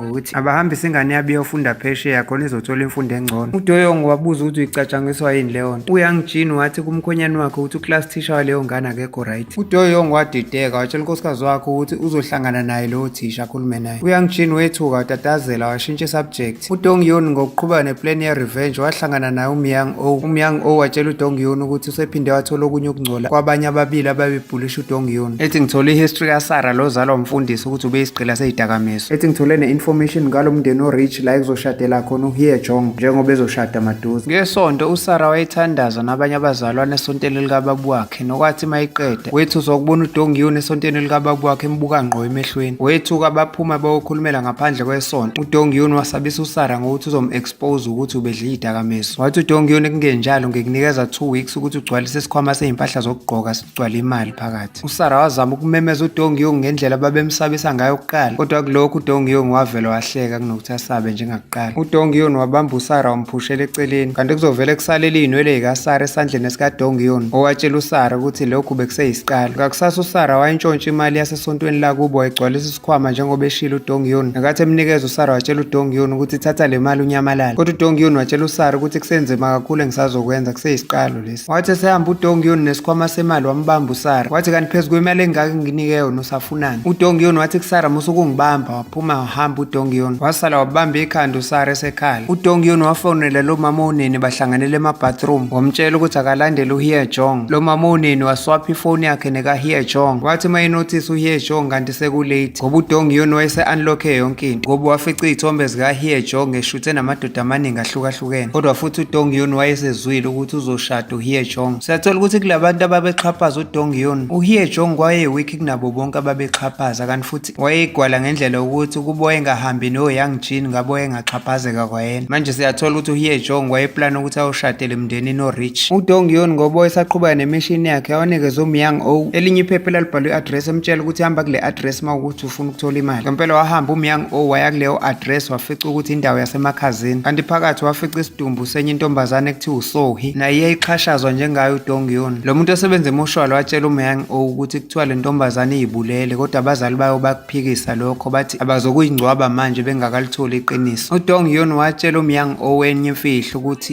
ngokuthi abahambise ingane yabo iyofunda phesheya khona izothola imfundo engcono udoyongo wabuza ukuthi uyicatshangiswa yini leyo nto uyang jean wathi kumkhonyane wakhe ukuthi uclass teacher waleyo ngane akekho right udoyongo wadideka watshela unkosikazi wakhe ukuthi uzohlangana naye lowo thisha akhulume naye uyang jean wethuka watatazela washintsha isubject udongyoni ngokuqhubeka neplan ye-revenge wahlangana naye umyang o umyang o watshela udongyoni ukuthi usephinde wathola okunye ukungcola kwabanye ababili ababebhulisha udongyoni ethi ngithole ihistory kasara lozalwa umfundisi ukuthi ubeyisigqila seyidakamizwa ethi ngithole ne-information ngalo mndeni orich la ekuzoshadela khona uhiye jong njengoba ezoshada maduze ngesonto usara wayethandaza nabanye abazalwane esonteni likababu wakhe nokwathi mayiqeda wethusa ukubona udongiyoni esonteni likababu wakhe embuka ngqo emehlweni wethuka baphuma bayokhulumela ngaphandle kwesonto udongiyoni wasabisa usara ngokuthi uzom-expose ukuthi ubedla iy'dakamizwa wathi udongiyoni kungenjalo ngikunikeza two weeks ukuthi ugcwalise isikhwama seyimpahla zokugqoka sigcwale imali phakathi State. USara wazama ukumemeza uDong Yung ngendlela babemsabisa ngayo kuqala, kodwa kulokhu uDong Yung wavele wahleka kunokuthi asabe njengakuqala. UDong Yung wabamba uSara wamphushela eceleni, kanti kuzovele kusalele iy'nwele yikaSara esandleni esikaDong Yung, owatshela uSara ukuthi lokhu bekuseyisiqalo. Ngakusasa uSara wayintshontsha imali yasesontweni lakubo wayigcwalisa isikhwama njengoba eshilo uDong Yung. Nakathi emnikeza uSara watshela uDong Yung ukuthi thatha le mali unyamalale, kodwa uDong Yung watshela uSara ukuthi kusenzima kakhulu engisazokwenza kuseyisiqalo lesi. Wathi esehamba uDongiyoni nesikhwama semali wambamba uSara. Wathi kanti phezu kwemali engaka nginike yona usafunani. UDongiyoni wathi kusara musa ukungibamba waphuma wahamba uDongiyoni. Wasala wabamba ikhanda uSara esekhala. UDongiyoni wafonela lo mama oneni bahlanganele emabathroom. Wamtshela ukuthi akalandele uHie Jong. Lo mama oneni waswapha ifoni yakhe nekaHie Jong. Wathi uma enothisa uHie Jong kanti sekulate ngoba uDongiyoni wayese-unlocke yonke into ngoba wafica iy'thombe zikaHie Jong eshuthe namadoda amaningi ahlukahlukene. ezahlukene kodwa futhi udong yun wayesezwile ukuthi uzoshada uhie jong siyathola ukuthi kulabantu ababexhaphaza udong yun uhie jong wayewikhi kunabo bonke ababexhaphaza kanti futhi wayeyigwala ngendlela yokuthi ukuba wayengahambi noyoung jean ngabo wayengaxhaphazeka kwayena manje siyathola ukuthi uhie jong wayeplana ukuthi ayoshadele emndenini orich udong yun ngoba wayesaqhubeka nemishini yakhe yawanikeza umyang o elinye iphepha elalibhalwe i-address emtshela ukuthi hamba kule address uma ukuthi ufuna ukuthola imali ngempela wahamba umyang o waya kuleyo address wafica ukuthi indawo yasemakhazini kanti phakathi wafica isidumbu senye intombazane ekuthiwa usohi naye iyayixhashazwa njengayo udongyun lo muntu osebenza emushwalo watshela umyang o ukuthi kuthiwa le ntombazane iyibulele kodwa abazali bayo bakuphikisa lokho bathi abazokuyingcwaba manje bengakalitholi iqiniso udongyun watshela umyang o wenye imfihlo ukuthi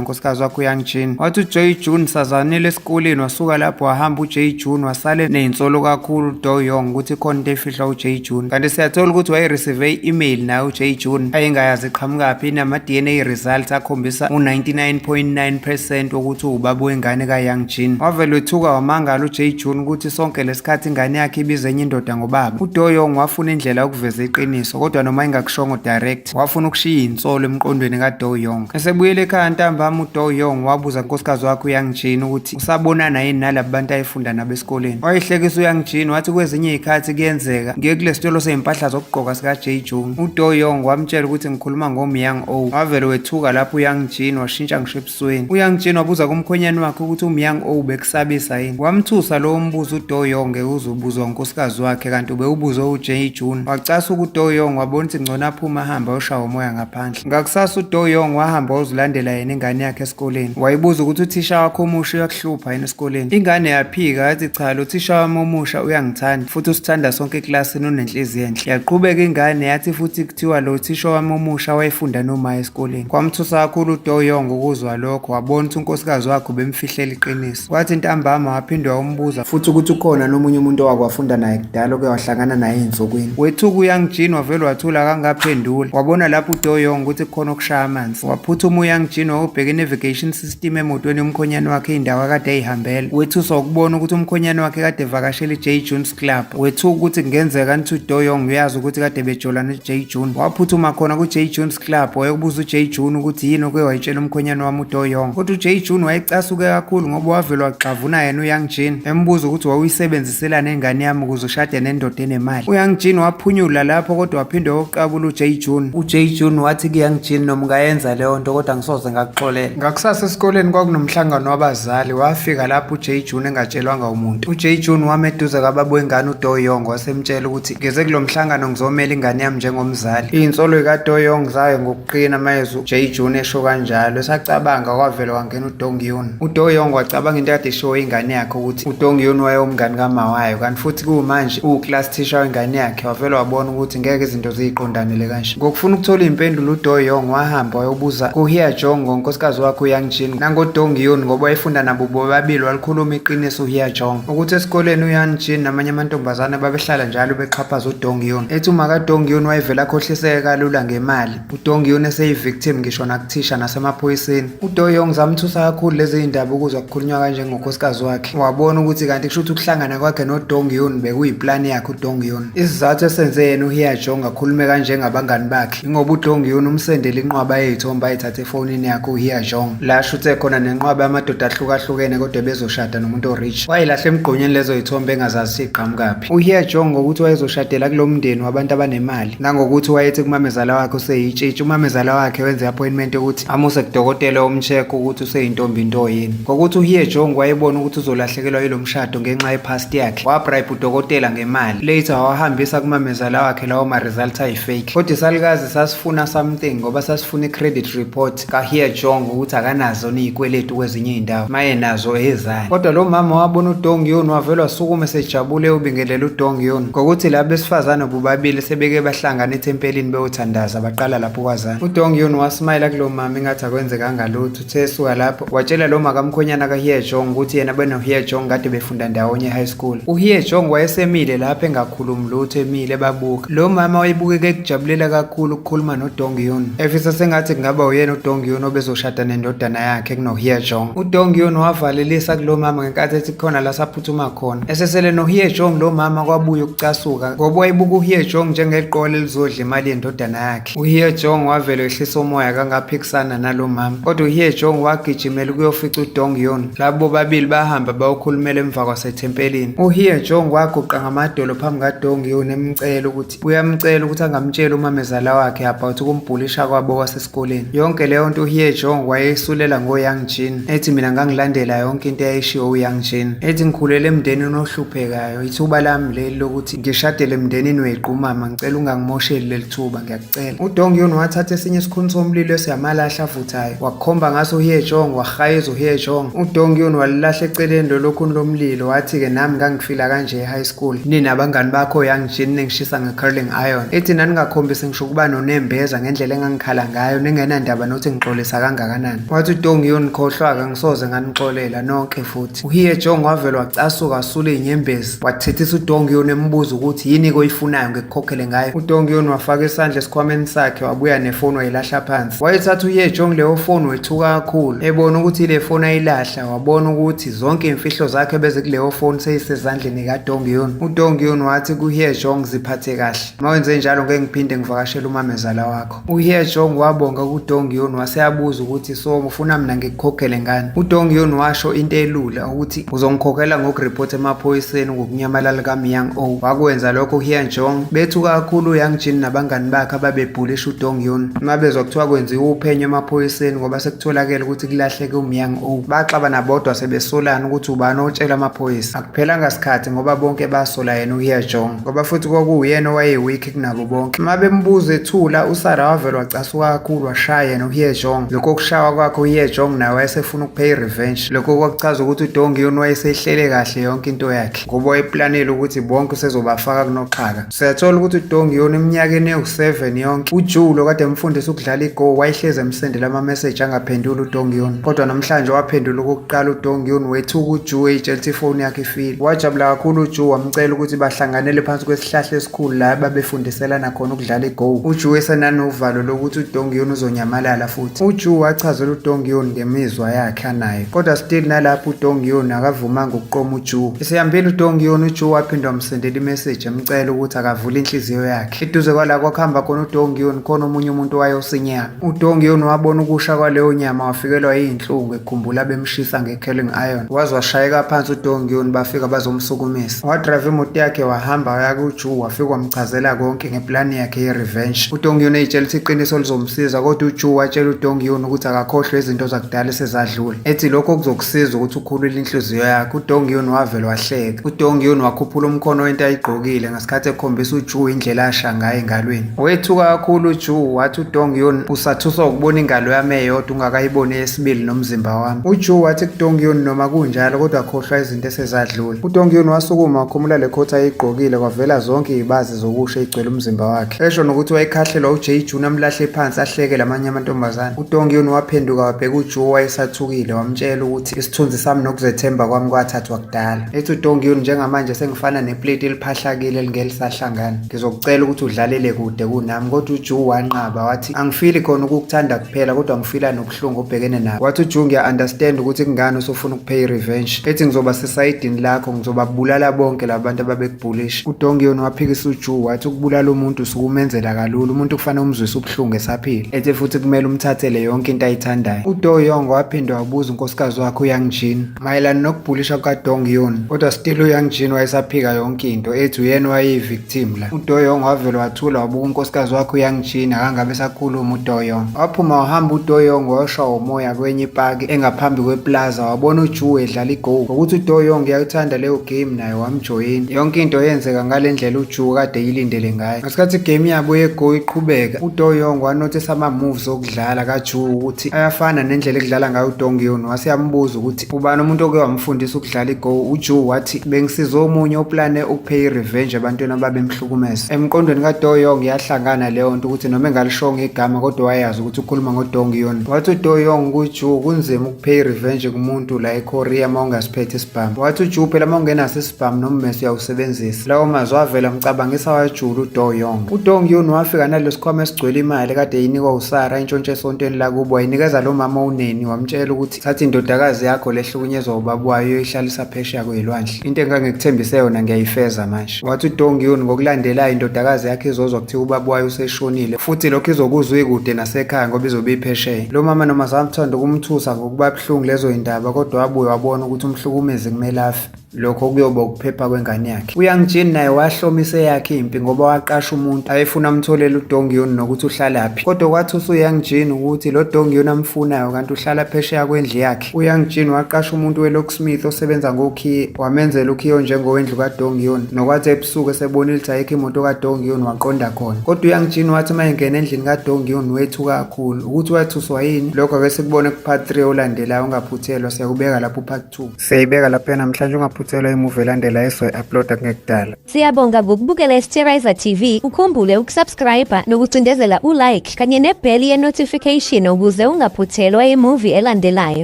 unkosikazi wakhe uyoung jean wathi ujoy june sazanile esikoleni wasuka lapho wahamba ujay june wasale neyinsolo kakhulu do yong ukuthi khona into efihlwa ujay june kanti siyathola ukuthi wayereceive i-email naye ujay june ayengayazi iqhamukaphi inama-dna results akhombisa u-99.9 percent wokuthi uwubaba wengane kayoung jean wavele wethuka wamangala ujay june ukuthi sonke lesikhathi ingane yakhe ibize enye indoda ngobaba udoyong wafuna indlela yokuveza iqiniso kodwa noma ingakushongo direct Wafuna ukushiya insolo emqondweni kaDou Yong. Esebuyela ekhaya ntambama uDou Yong wabuza unkosikazi wakhe uYang Jin ukuthi usabonana yini nalabo bantu ayefunda nabo esikoleni. Wayehlekisa uYang Jin wathi kwezinye izikhathi kuyenzeka ngiye kule sitolo sezimpahla zokugqoka sika Jay Jung. UDou Yong wamtshela ukuthi ngikhuluma ngoMyang O. Wavele wethuka lapho uYang Jin washintsha ngisho esweni uyangitshena wabuza kumkhwenyane wakhe ukuthi umyang o ubekusabisa yini wamthusa lowo mbuzo udoyong uzobuzwa unkosikazi wakhe kanti ubewubuzwe ujay june wacasa ukuthi udoyong wabona ukuthi ngcono aphume ahambe ayoshawa umoya ngaphandle ngakusasa udoyong wahamba wayozilandela yena ingane yakhe esikoleni wayibuza ukuthi uthisha wakho omusha uyakuhlupha yini esikoleni ingane yaphika yathi cha lo thisha wami omusha uyangithanda futhi usithanda sonke ekilasini unenhliziyo enhle yaqhubeka ingane yathi futhi Kuthiwa lo thisha wami omusha wayefunda nomaya esikoleni. Kwamthusa kakhulu uDoyong ukuzwa lokho, wabona ukuthi unkosikazi wakhe ubemfihlela iqiniso. Kwathi ntambama waphinde wawumbuza futhi ukuthi ukhona nomunye umuntu owake wafunda naye kudala oke wahlangana naye ey'nsukwini. Wethuka uYang Jin wavele wathula akangaphenduli. Wabona lapho uDoyong ukuthi kukhona okushaya amanzi. Waphuthuma uYang Jin wawubheka i-navigation system emotweni yomkhonyane wakhe indawo akade eyihambela. Wethuswa ukubona ukuthi umkhonyane wakhe kade evakashela i-J Jun Club wethu ukuthi kungenzeka nithi uDoyong uyazi ukuthi kade bejola noJay June waphuthuma khona kuJay June's Club wayokubuza uJay June ukuthi yini oke wayitshela umkhwenyana wami uDoyong kodwa uJay June wayecasuke kakhulu ngoba wavele waxavuna yena uYoung Jin embuza ukuthi wawuyisebenziselana ingane yami ukuze ushade nendoda enemali uYoung Jin waphunyula lapho kodwa waphinde wokuqabula uJay June uJay June wathi kuYoung Jin noma ungayenza leyo nto kodwa ngisoze ngakuxolela ngakusasa esikoleni kwakunomhlangano wabazi Zali wafika lapho uJay June engatshelwanga umuntu. UJay June wama eduze kwababa wengane uDoyong wasemtshela ukuthi ngeze kulo mhlangano ngizomela ingane yami njengomzali. Insolo ikaDoyong zayo ngokuqina mayezwa uJay June esho kanjalo. Esacabanga kwavela wangena uDong Yun. UDoyong wacabanga into kade ishiwo ingane yakhe ukuthi uDong Yun wayewumngane kamawayo kanti futhi kuwumanje uwuclass teacher wengane yakhe wavele wabona ukuthi ngeke izinto ziyiqondanele Asha. Ngokufuna ukuthola impendulo uDo Yong wahamba wayobuza kuHia Jong ngonkosikazi wakhe uYang Jin nangoDong Yun ngoba wayefunda nabo bobabili walikhuluma iqiniso uHia Jong ukuthi esikoleni uYang Jin namanye amantombazane babehlala njalo bexhaphaza uDong Yun ethi uma kaDong Yun wayevela akhohliseke kalula ngemali uDong Yun eseyivictim ngisho nakuthisha nasemaphoyiseni uDo Yong zamthusa kakhulu lezi zindaba ukuzwa kukhulunywa kanje ngonkosikazi wakhe wabona ukuthi kanti kusho ukuthi ukuhlangana kwakhe noDong Yun bekuyiplani yakhe uDong Yun Isizathu esenze yena uHiyajo ngakhulume kanje ngabangani bakhe ingoba uDongiyun umsendele inqwaba yezithombe ayithathe efonini yakhe uHiyajong la ashuthe khona nenqwaba yamadoda ahlukahlukene kodwa bezoshada nomuntu orich wayilahla emgqonyeni lezo zithombe engazazi siqhamukaphi uHiyajong ngokuthi wayezoshadela kulo mndeni wabantu abanemali nangokuthi wayethi kumamezala wakhe useyitshitshi umamezala wakhe wenze i-appointment yokuthi amuse kudokotela omcheck ukuthi useyintombi into yini ngokuthi uHiyajong wayebona ukuthi uzolahlekelwa yilo mshado ngenxa ye-past yakhe wabribe udokotela ngemali later wawahambisa kumamezala wakhe lawo ma-results ayi-fake kodwa isalukazi sasifuna something ngoba sasifuna i-credit report kahiya jong ukuthi akanazo niyikweletu kwezinye iy'ndawo maye nazo ezani kodwa lo mama wabona udong yon wavele wasukume sejabule ubingelela udong yon ngokuthi laba besifazane bobabili sebeke bahlangana ethempelini bewothandaza baqala lapho kwazana udong yon wasimayela kulo mama ingathi akwenzekanga lutho Sesuka lapho watshela lo makamkhwenyana kaHie Jong ukuthi yena benoHie Jong kade befunda ndawonye high school. UHie Jong wayesemile lapho engakhulumi lutho emile ebabuka. Lo mama wayebukeka ekujabulela kakhulu ukukhuluma noDong Yun. Efisa sengathi kungaba uyena uDong Yun obezoshada nendodana yakhe kunoHie Jong. UDong Yun wavalelisa kulo mama ngenkathi ethi khona la saphuthuma khona. Esesele noHie Jong lo mama kwabuya ukucasuka ngoba wayebuka uHie Jong njengeqole elizodla imali yendodana yakhe. yakhe. Uhie Jong wavele ehlisa umoya kangaphikisana nalo mama. Kodwa uhie Jong wagijimela ukuyofica uDong Yoon. Labo bobabili bahamba bayokhulumela emva kwasethempelini. Uhie Jong waguqa ngamadolo phambi kaDong Yoon emcela ukuthi uyamcela ukuthi angamtshela umamezala wakhe about ukumbhulisha kwabo kwasesikoleni. Yonke leyo nto uhie Jong wayeyisulela ngoYang Jin. Ethi mina ngangilandela yonke into eyayishiwo uYang Jin. Ethi ngikhulele emndenini ohluphekayo. Ithuba lami leli lokuthi Ngishadele emndenini wequ mama ngicela ungangimosheli leli thuba ngiyakucela. UDongyun wathatha esinye isikhuni somlilo esiyamalahle avuthayo wakukhomba ngaso uHye Jong wahayeza uHye Jong. UDongyun walilahla eceleni lolo khuni lomlilo wathi-ke nami ngangifila kanje e-high school. Nina abangani bakho young Jin ningishisa nge-curling iron. Ithi naningakhombisi ngisho ukuba nonembeza ngendlela engangikhala ngayo ningenandaba nokuthi ngixolisa kangakanani. Wathi uDongyun khohlwa-ke ngisoze nganixolela nonke futhi. UHye Jong wavele wacasuka asula izinyembezi. Wathethisa uDongion embuza ukuthi yini koyifunayo ngekukhokhele ngayo. UDongion wafaka isandla esikhwameni sakhe wabuya nefoni wayilahla phansi. Wayethatha uYejong leyo foni wethuka kakhulu. Ebona ukuthi ile foni ayilahla wabona ukuthi zonke imfihlo zakhe bezikuleyo foni seyisezandleni kaDongion. UDongion wathi kuYejong ziphathe kahle. Mawenze njalo ngeke ngiphinde ngivakashele umamezala wakho. UHyejong wabonga kuDong Yun wase abuza ukuthi so ufuna mina ngikukhokhele ngani. UDong Yun washo into elula ukuthi uzongikhokhela ngokuripotha emaphoyiseni ngokunyamalala kaMyang O. Wakwenza lokho uHyejong bethuka kakhulu uYang Jin nabangani bakhe ababebhulisha uDong Yun. Uma bezwa kuthiwa kwenziwa uphenyo emaphoyiseni ngoba sekutholakele ukuthi kulahleke uMyang O. Baxaba nabodwa sebesolana ukuthi ubani otshela amaphoyisa. Akuphelanga sikhathi ngoba bonke basola yena uHyejong ngoba futhi kwakuwuyena owayeweak kunabo bonke uma bembuza ethula usara wavele wacasuka kakhulu washaya yena uhiye jong lokho kushawa kwakhe uhiye jong naye wayesefuna ukupheya i-revenge lokho kwakuchaza ukuthi udongi yona wayesehlele kahle yonke into yakhe ngoba wayeplanele ukuthi bonke usezobafaka kunoxhaka siyathola ukuthi udongi yona eminyakeni ewu-7 yonke ujoe lo kade emfundisa ukudlala igo wayehlezi emsendela ama-message angaphenduli udongi yona kodwa namhlanje waphendula okokuqala udongi yona wethuka ujoe eyitshela ukuthi ifoni yakhe ifile wajabula kakhulu ujoe wamcela ukuthi bahlanganele phansi kwesihlahla khulu la babefundiselana khona ukudlala igowu uju esenanovalo lokuthi udongiyoni uzonyamalala futhi uju wachazela udongiyoni ngemizwa yakhe anayo kodwa still nalapho udongiyoni akavumanga ukuqoma uju isihambile udongiyoni uju waphinde wamsendela imeseji emcela ukuthi akavule inhliziyo yakhe eduze kwala kwakuhamba khona udongiyoni khona omunye umuntu wayosinyama udongiyoni wabona ukusha kwaleyo nyama wafikelwa yiyinhlungu ekhumbula bemshisa nge Kelling Iron waze washayeka phansi uDongyun bafika bazomsukumisa wadrive imoto yakhe wahamba waya kuJu wafika wamchazela konke ngeplani yakhe ye-revenge uDongyun eyitshela ukuthi iqiniso lizomsiza kodwa uJu watshela uDongyun ukuthi akakhohlwe izinto zakudala esezadlula ethi lokho kuzokusiza ukuthi ukhulule inhliziyo yakhe uDongyun wavele wahleka uDongyun wakhuphula umkhono wento ayigqokile Isikhathi ekhombisa uJu indlela asha ngayo engalweni. Wethuka kakhulu uJu wathi uDong Yun usathuswa ukubona ingalo yami eyodwa ungakayiboni eyesibili nomzimba wami. UJu wathi kuDong Yun noma kunjalo kodwa khohlwa izinto esezadlula. UDong Yun wasukuma wakhumula le coat ayigqokile kwavela zonke izibazi zokusha igcwele umzimba wakhe. Esho nokuthi wayekhahlelwa uJay Jun amlahle phansi ahleke lamanye amantombazane. UDong Yun waphenduka wabheka uJu wayesathukile wamtshela ukuthi isithunzi sami nokuzethemba kwami kwathathwa kudala. Ethi uDongiyuni njengamanje sengifana neplate eliphahlakile elingelisahlangana. Ngizokucela ukuthi udlalele kude kunami kodwa uJu wanqaba wathi angifili khona ukukuthanda kuphela kodwa ngifila nobuhlungu obhekene nabo. Wathi uJu ngiya understand ukuthi kungani usufuna ukupay revenge. Ethi ngizoba sesayidini lakho ngizobabulala bonke labantu ababekubhulisha. UDongiyuni waphikisa uJu wathi ukubulala umuntu sukumenzela kalula umuntu kufanele umzwise ubuhlungu esaphila. Ethi futhi kumele umthathele yonke into ayithandayo. UDoyong waphinde wabuza unkosikazi wakhe uYangjin. Mayelana nokubhulisha kukaDong Yun, kodwa still uYang Jin wayesaphika yonke into, ethi uyena wayeyi-victim la. UDo Yong wavele wathula wabuka unkosikazi wakhe uYang Jin, akangabe esakhuluma uDo Yong. Waphuma wahamba uDo Yong wayoshwa umoya kwenye ipaki engaphambi kweplaza, wabona uJu edlala igoal. Ngokuthi uDo Yong uyakuthanda leyo game naye wamjoyina. Yonke into yenzeka ngale ndlela uJu kade eyilindele ngayo. Ngesikhathi igame yabo yegoal iqhubeka, uDo Yong wanothisa ama-moves dlala kaJu ukuthi ayafana nendlela ekudlala ngayo uDongyon wase yambuza ukuthi ubani umuntu oke wamfundisa ukudlala iGo uJu wathi bengisiza omunye oplane ukupay irevenge ebantwini ababemhlukumeza emqondweni kaDoyong yahlangana leyo nto ukuthi noma engalishonga igama kodwa wayazi ukuthi ukhuluma ngoDongyon wathi uDoyong kuJu kunzima ukupay irevenge kumuntu la eKorea uma ungasiphethe isibhamu wathi uJu phela uma ungenaso Bam nommese uyawusebenzisa. Lawo mazwi avela amcabangisa wajula uDo Young. UDong Yun wafika nalesi sikhwama esigcwele imali kade yinikwa uSara intshontshe esontweni lakubo wayinikeza lo mama uneni wamtshela ukuthi thatha indodakazi yakho lehlukunyezwa ubaba wayo uyoyihlalisa phesheya kwezilwandle. Into engangikuthembise yona ngiyayifeza manje. Wathi uDong Yun ngokulandelayo indodakazi yakhe izozwa kuthiwa ubaba wayo useshonile futhi lokho izokuzwa ikude nasekhaya ngoba izobe iphesheya. Lo mama noma zamthanda ukumthusa ngokuba buhlungu lezo yindaba kodwa wabuye wabona ukuthi umhlukumezi kumele afe. lokho kuyoba ukuphepha kwengane yakhe uyangijini naye wahlomise eyakhe impi ngoba waqasha umuntu ayefuna amtholele udongiyoni nokuthi uhlalaphi kodwa kwathi usuyangijini ukuthi lo dongiyoni amfunayo kanti uhlala phesheya kwendlu yakhe uyangijini waqasha umuntu welocksmith osebenza ngokhiye wamenzela ukhiyo njengowendlu kadongiyoni nokwathi ebusuku esebonile ukuthi ayikho imoto kadongiyoni waqonda khona kodwa uyangijini wathi uma engena endlini kadongiyoni wethu kakhulu ukuthi wathuswa yini lokho ake sikubone kupart 3 olandelayo ungaphuthelwa siyakubeka lapho upart 2 Siyayibeka lapha namhlanje ungaphuthelwa imuvi elandela esoyi-uploada kungekudala. Siyabonga ngokubukela iSterizer TV. Ukhumbule ukusubscribe nokucindezela ulike kanye nebheli ye-notification ukuze ungaphuthelwa imuvi elandelayo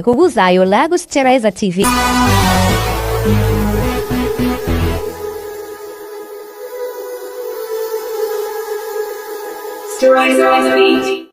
ngokuzayo la kuSterizer TV. Sterizer TV.